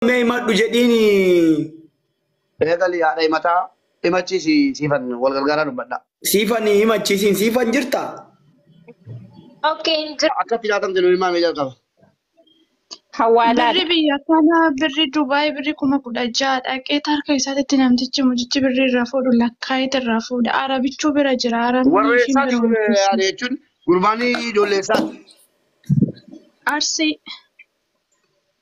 mee himadhu jedhiini. Eegali haadha himataa himachiisi siifan wal gargaaraa dubbadha. Siifan himachiisiin siifan jirta. Okay, hin jiru. Akkatti laatan jedhu ilmaa mee jalqaba. Birri Hawaalaadha. biyya kana birri Dubaay birri kuma kudha ja'a dhaqee harka isaatitti namtichi mucichi birri irraa fuudhu lakkaa'eeti irraa fuudha. Arabichuu bira jira. Arabni Warra ishiin eessaati bira warra hojjetu. yaada jechuun gurbaan ijoollee eessaati? Arsii.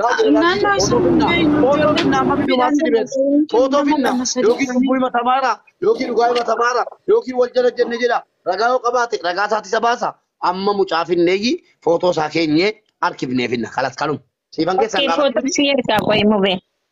Naannoo isaa hundee hin Footoo finna amma hojjenne bidumaa si dhibees. Footoo finna yookiin cubbuu himatamaara yookiin dhugaa himatamaara yookiin wal jala jenne jedha. Ragaa yoo qabaate ragaa isaati isa baasa. Amma mucaa finneeyyi footoo isaa keenyee harkifnee finna kalas kanuma. Siifan keessan Okkee gaafadhu. footoo si ergaa qoyi mubee.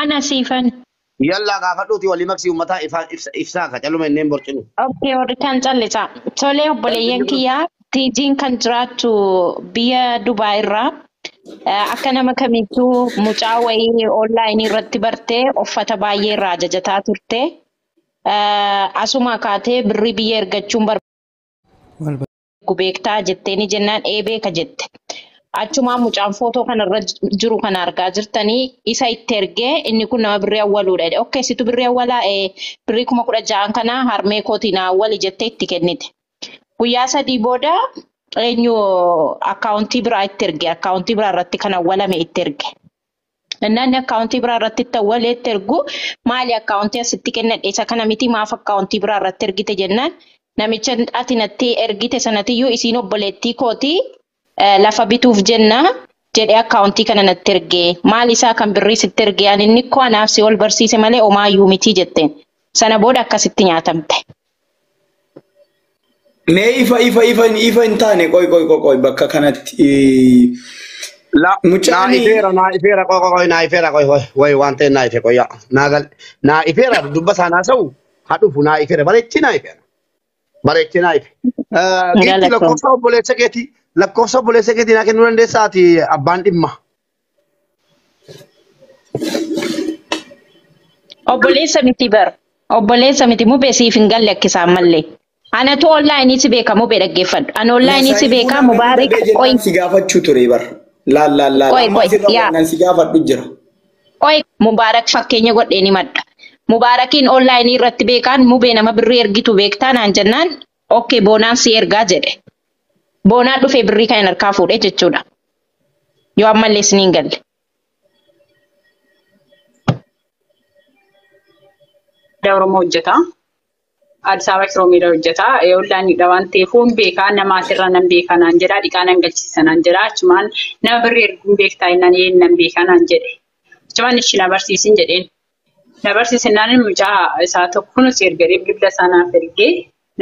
Ana siifan. Yallaa gaafadhuuti walii maqsii ummataa ifaa ifsa ifsaa ka caluma inneen borcinu. Ok warri kaan callisaa. Tolee obboleeyyan kiyya Tiijiin kan jiraattu biyya Dubaay irraa Eh, akka nama kamiittuu mucaa wayii online irratti bartee uffata baay'ee irraa ajajataa turte Eh, asumaa kaatee birrii biyya ergachuun bar Wal beeku beektaa jetteeni jennaan ee beeka jette. Achumaan mucaan footoo kana irra jiru kana argaa jirtanii isa itti ergee inni kun nama birrii awwaluudha jedhe. Okkee situ birrii awwalaa ee birrii kuma kudha ja'an kana harmee kootii naa awwali jettee itti kennite. Guyyaa sadii booda eenyu akkaawuntii biraa itti erge akkaawuntii biraa irratti kan awwalame itti erge. Inni akkaawuntii biraa irratti itti awwalee itti ergu maali akkaawuntii asitti kennadhe isa kana miti maaf akkaawuntii biraa irratti ergite jennaan namicha ati natti ergite sanatiyyuu isiin obboleettii kooti lafa bituuf jenna jedhee akkaawuntii kana natti erge maali isaa kan birrii sitti erge ani inni koo anaaf si ol barsiise malee omaayyuu miti jetteen sana booda akkasitti nyaatamte. Mee ifa ifa ifa ifa hin taane qoy qoy qoy qoy bakka kanatti La, naa mucaan ifeera naa ifeera qoy qoy qoy naa ifeera qoy qoy way waan ta'e naa ife qoy yaa naa gal naa ifeera dubba isaa naa sa'u haa dhufu naa ifeera bareechi naa ifeera bareechi naa ife. Eh, Giifti Galatoom. lakkoofsa obboleessa keetii lakkoofsa obboleessa keetii naa kennuu dandeessaa ati abbaan dhimma. Obboleessa miti bar. Obboleessa miti mube siif hin galle akkisaan mallee. Anatu online si beeka mube dhaggeeffadhu. Ani online si Masaayii beeka fuula miti mubaarik dhabee qoy jennaan si gaafachuu ture bar. Laal laal laal qoy amma qoy asirra yaa wannaan si gaafadhu jira. qoy mubaarak fakkeenya godheen himadha. Mubaarakiin online irratti beekaan mubee nama birrii ergitu beektaa naan jennaan ok boonaan sii ergaa jedhe boonaan dhufee birrii kan harkaa fuudhe jechuudha yoo ammallee isin hin galle Aadaa Oromoo hojjeta. Addis Ababa Kiroomiidha hojjeta. Ollaan hidha waan ta'eef hin beekaa nama asirraa nan beekaa naan jedha. Dhiqaa nan galchiisa naan jedha. Achumaan nama birrii erguun beektaa innaan ee nan beekaa naan jedhe. Achumaan ishi na barsiisin jedheen. Na barsiise naan mucaa isaa tokko kunis ergadhee bilbila isaa naaf ergee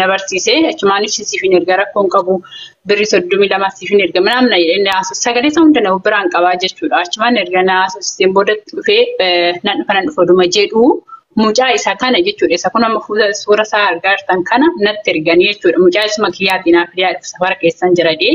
na barsiise achumaan ibsi siif hin erga rakkoon qabu birri soddomii lama siif hin erga minaan na jedhee na haasofsiise sagalee isaa hunda na biraan qabaa jechuudha achumaan erga na haasofsiiseen booda dhufee nan dhufa nan dhufa dhuma jedhu mucaa isa kana jechuudha isa kun amma fuula suura isaa argaa jirtan kana natti erganii jechuudha mucaa isuma kiyyaatiin haafidee safara keessan jiradee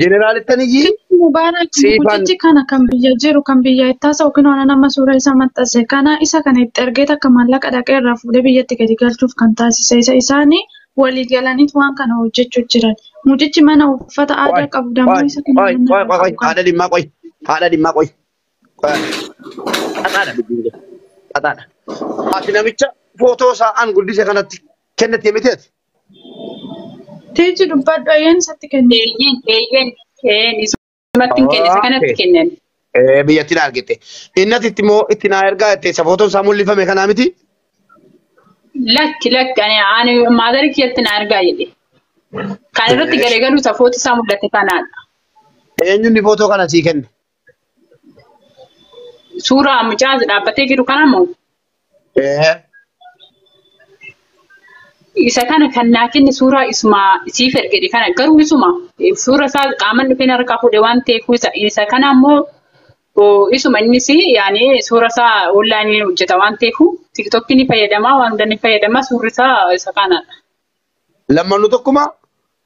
Jeneraalottan iyyii Mubaarak siifan mucichi kana kan biyya jiru kan biyya itti haasa'u kunoo ana nama suura isaa maxxanse kana isa kana itti ergee takka maallaqa dhaqee irraa fuudhee biyyatti gadi galchuuf kan taasise isa isaanii walii galaniit waan kana hojjechuu jiran mucichi mana uffata qoy aadaa qabu qoy dammoo isa kana qoy manni qoy irraa qoy qoy qabu kana haadha dhimmaa qoy haadha dhimmaa qoy qoy haadha xaxaadha dubbiin kun xaxaadha. Ati namicha footoo isaa an guddise kanatti kennite miteeti. Tiiji dubbadhu ayyan isatti kenni. Eeyyin, eeyyin, keen isumatti hin kenne, isa kanatti Okay. kennen. Eh, biyyattiin argite. Innas itti moo itti naa ergaa itti isa footoon isaa mul'ifame kanaa miti? Lakki, lakki, ani, ani maadara kiyyatti na argaa jedhe. Kan irratti Eh, galeegalu safooti isaa mul'ate kanaadha. Eenyuun footoo kana sii kenne? Suuraa mucaa dhaabbatee jiru kana moo? Ee. Isa kana kan naa kenne suuraa isuma siif ergedhe kana garuu isuma suura isaa qaaman dhufeen harkaa fuudhe waan ta'eef isa isa kana immoo oo, isuma innis yaani suura isaa onlaayinii hojjeta waan ta'eef tiktokii ni fayyadama waan hunda ni fayyadama suurri isaa isa kanadha. Lammanuu tokkuma?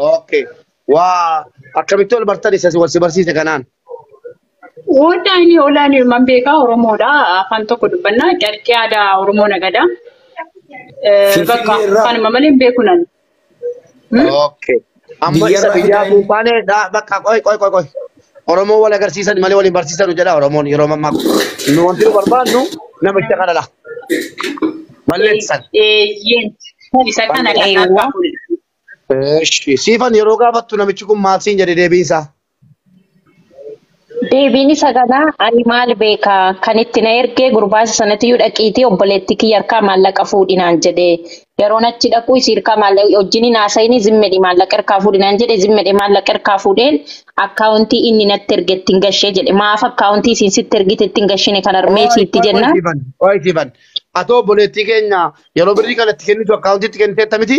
Okay. Waa akkamitti wal bartan isa wal si barsiise kanaan. Wanta inni olaan ilmaan beekaa Oromoodha. Afaan tokko dubbannaa carqii aadaa Oromoo nagada. Eh, Finfinnee Bakka irraa afaanuma malee hin beeku nan. Hmm? Okay. Amma isa biyyarraa biyyaa fidaa inni. buufaane dha- bakka qoy qoy qoy qoy. Oromoo wal agarsiisan malee wal hin barsiisanu jedha Oromoon yeroo ammaa kun. Nu wanti nu barbaannu namicha kanadha. Balleessan. Eeyyeen. Isa kana kan Eewwa. argaa kun. Eshi. Siifan yeroo gaafattu namichi kun maal siin jedhe deebiin isaa? Deebiin isa kanaa ani maal beeka kan itti na ergee gurbaasa sanatiyyuu dhaqiitii obboleettii kiyya harkaa maallaqa fuudhi naan jedhe yeroon achi dhaquu isii harkaa maallaqa wajjin hin haasa'ini zimmedhi maallaqa harkaa fuudhi naan jedhe zimmedhe maallaqa harkaa fuudheen akkaawuntii inni natti erge ittiin gashee jedhe maaf akkaawuntii isiin sitti ergite ittiin gashine kan harmee Qoy siitti qoy qoy jenna siifan. Qoy siifan. Atoo obboleettii keenya yeroo birrii kana itti kennitu akkaawuntiitti kenniteetta miti?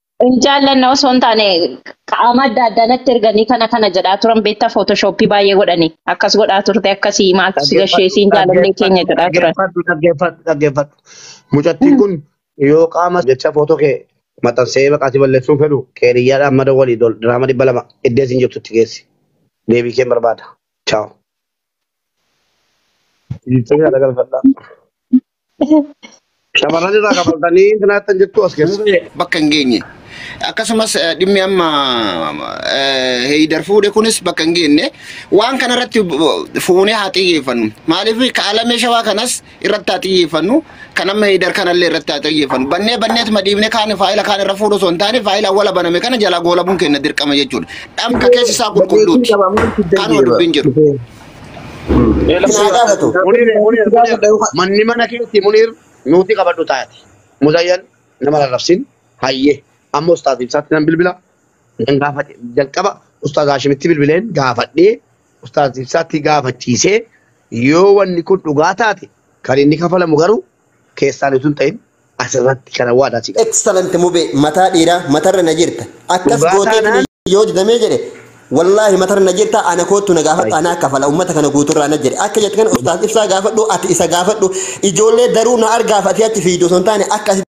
Hin jaallanne osoo hin taane qaama adda addaa natti erganii kana kana jedhaa turan beektaa footoshoppii baay'ee godhanii akkas godhaa turte akkasii maaltu si gashee Dhaggeeffadhu, siin jaalallee keenya jedhaa turan. dhaggeeffadhu, dhaggeeffadhu, dhaggeeffadhu. Mucattiin kun yoo qaama jecha footoo kee maxxansee maqaa si balleessuun fedhu qeeriyyaadhaan mada walii dol diraama dhibba lama iddee siin jirtutti geessi. Deebii kee barbaada. Chaaw. Dhiiftee kana galfadhaa. Shamarran irraa kafaltanii intina hattan jettu as keessa. Duubee bakka hin geenye. Akkasumas eh, dhimmi amma eh, heeyidar fuudhe kunis bakka hin geenye. Waan kana irratti bu- fuunee haa xiyyeeffannu. Maaliif kaalamee shawaa kanas irratti haa xiyyeeffannu. Kan amma heeyidar kanallee irratti haa xiyyeeffannu. Bannee banneetuma dhiibnee kaan faayila kaan irra fuudhu osoo hin taane faayila awwala baname kana jalaa goolabuun keenya dirqama jechuudha. Dhamka keessi isaa Dandeettiin qulqulluuti. qaba maal fiddan Kanuma jedhe dubbiin jiru. bara. Isaa gaafatu. Munir munir munir manni mana keetti munir nuuti qabadhu taati. Muzayyan nama rarrabsin hayyee amma ustaaz ibsaatti nan bilbila nan gaafadhe jalqaba ustaaz Haashimitti bilbileen gaafadhee ustaaz ibsaatti gaafachiisee yoo wanni kun dhugaa taate kan inni kafalamu garuu keessaan utuu hin ta'in asirratti kana waadaa si gala. Excellent mube mataa dhiiraa matarra na jirta. Akkas Dhugaa gootee taanaan yoo didamee jedhe wallaahi matarra na jirta ana koottu na gaafadhu ana akka fala ummata kana guuturraa na jedhe akka jettu kana ustaas ibsaa gaafadhu ati isa gaafadhu ijoollee daruu na argaaf ati achi fiidu osoo hin taane akka asi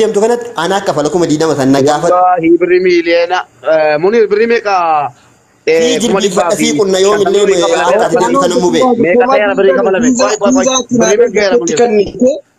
deemtu kanatti ana akka fala kuma diidama san na gaafadhu Wallahi birri miliyoona eh, munir birri meeqa eh, sii kuma dhibbaa jilbiifadha fi sii qunna yoo shantamii millee durii kafalame akka ati deemtu kana mubee meeqa ta'eera birri kafalame qoy qoy qoy birri meeqa ta'eera munir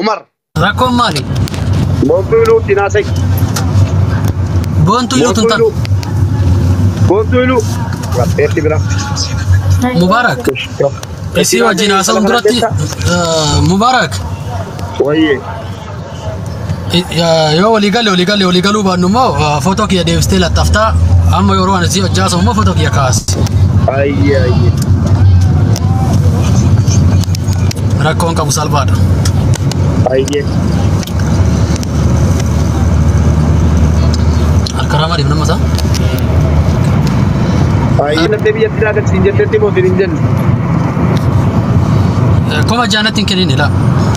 Umar. Rakkoon maali? Boontuu iluu ittiin haasa'i. Boontuu iluu tun tan. Boontuu iluu. Rabbeetti bira. Mubaarak. Isii wajjin haasa'uun duratti Mubaarak. Wayyee. yoo walii galle walii galle walii galuu baannu immoo footoo kiyya deebistee laxxaftaa amma yeroo ani si hojjaasu immoo footoo kiyya kaasi. Ayyee ayyee. Rakkoon qabu salphaadha. Ayyee. Harka ramaa deemna masaa. Ayyee. Lattee biyyatti naa galchiin jettetti mootiin hin jenne. Koma jaanatti hin kennin ilaa.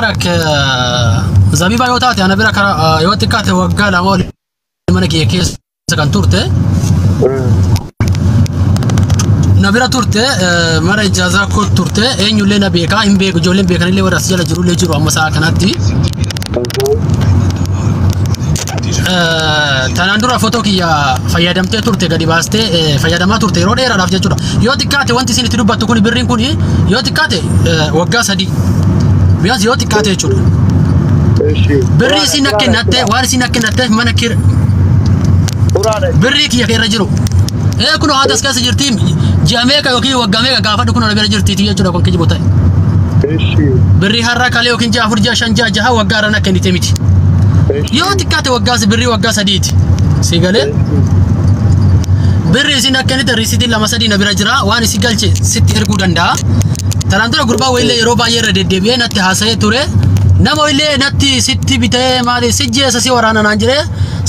Barak zabiba yoo taate ana bira kara yoo xiqqaate waggaa lama ol mana kiyya keessa kan turte na bira turte eh, mana ijaazaa koo turte eenyullee na beekaa hin beeku ijoolleen beekanillee warra as jala jirullee jiru amma sa'a kanatti Tanaan dura footoo kiyya fayyadamtee turte gadi baastee eh, fayyadamaa turte yeroo dheeraadhaaf jechuudha. Yoo xiqqaate wanti isin itti dubbattu kun birriin kun yoo xiqqaate eh, waggaa sadii. Biyyaas yoo xiqqaate jechuudha. Eshi. Birrii isin akka kennatte waan isin akka kennatte mana kir Quraana. birrii kiyya keerra jiru. Ee kun haata as keessa jirti ji'a meeqa yookiin waggaa meeqa gaafadhu kun bira jirti jechuudha kun kijibu ta'e. Eshi. Birrii har'a kalee yookiin ji'a afur ji'a shan ji'a jaha waggaa irra na kennite miti. Yoo xiqqaate waggaa si birrii waggaa sadiiti. Si galee? Birri isin akka inni risiitiin lama sadii na bira jira waan isi galche sitti erguu danda'a. Tanaan dura gurbaa wayillee yeroo baay'ee irra deddeebi'ee natti haasa'ee ture. Nama wayillee natti sitti bitee maali si jeessa si waraana naan jedhee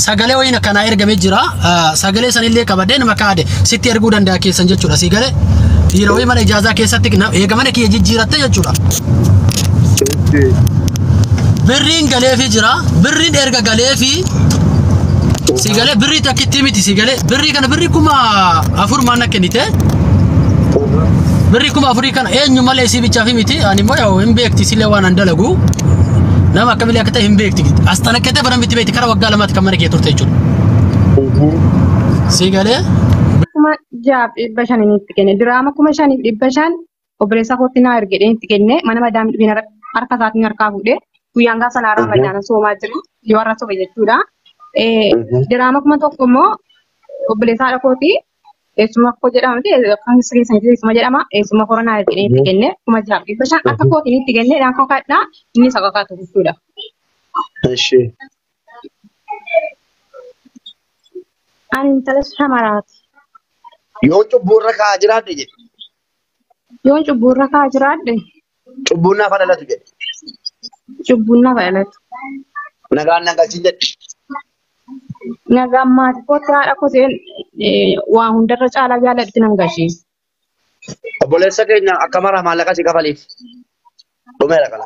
sagalee wayiin akkanaa ergamee jira. Ah, Sagalee sanillee qabadhee nama kaade sitti erguu danda'a keessan jechuudha si galee. Dhiira wayii mana ijaazaa keessatti na- eega mana kiyya jijjiiratte jechuudha. Birriin galeefii jira. Birriin erga galeefii si galee birrii takkittii miti si galee birrii kana birrii kuma afur maanna kennite. Birrii kuma afurii kana eenyu malee isii bichaaf miti ani immoo yaa'u hin beekti silee waan an dalagu. Nama akkamilee akka ta'e hin beekti. As xanaqqatee baran miti beekti kara waggaa lamaatti kan mana kee turte jechuudha. Si galee kuma jaaf dhibba shaniin itti kenne diraama kuma shaniif dhibba shan obboleessaa kootti naa erge jedheen itti kenne mana madaamii dhufeen har- harka isaatiin harkaa fuudhe guyyaan gaafa sanaa ramadaana soomaa jiru yoo har'a sobe jechuudha. Eh, Diraama kuma tokko immoo obboleessaa haadha kooti eessuma koo jedhama miti kan keessa keessa hin jiru eessuma jedhama eessuma kora naa erge jedheen itti kenne kuma jaaf dhibba shan akka kootiin itti kenne dhaan kakadhaa inni isa kakatu jechuudha. Ishee. Ani intala shamaraati. Yoo cubbuu irra kaa'aa jiraadhe jedhe. Yoon cubbuu irra kaa jiraadhe Cubbuun naaf dhalatu jedhe. cubbuun naaf dhalatu. Nagaan na galchin jedhe. Nagaan maatii kootti haadha koteen waa hundarra caalaa jaaladhutti nan gashee. Obboleessa keenya akka maraa maallaqa si kafaliif. Dhumeera kana.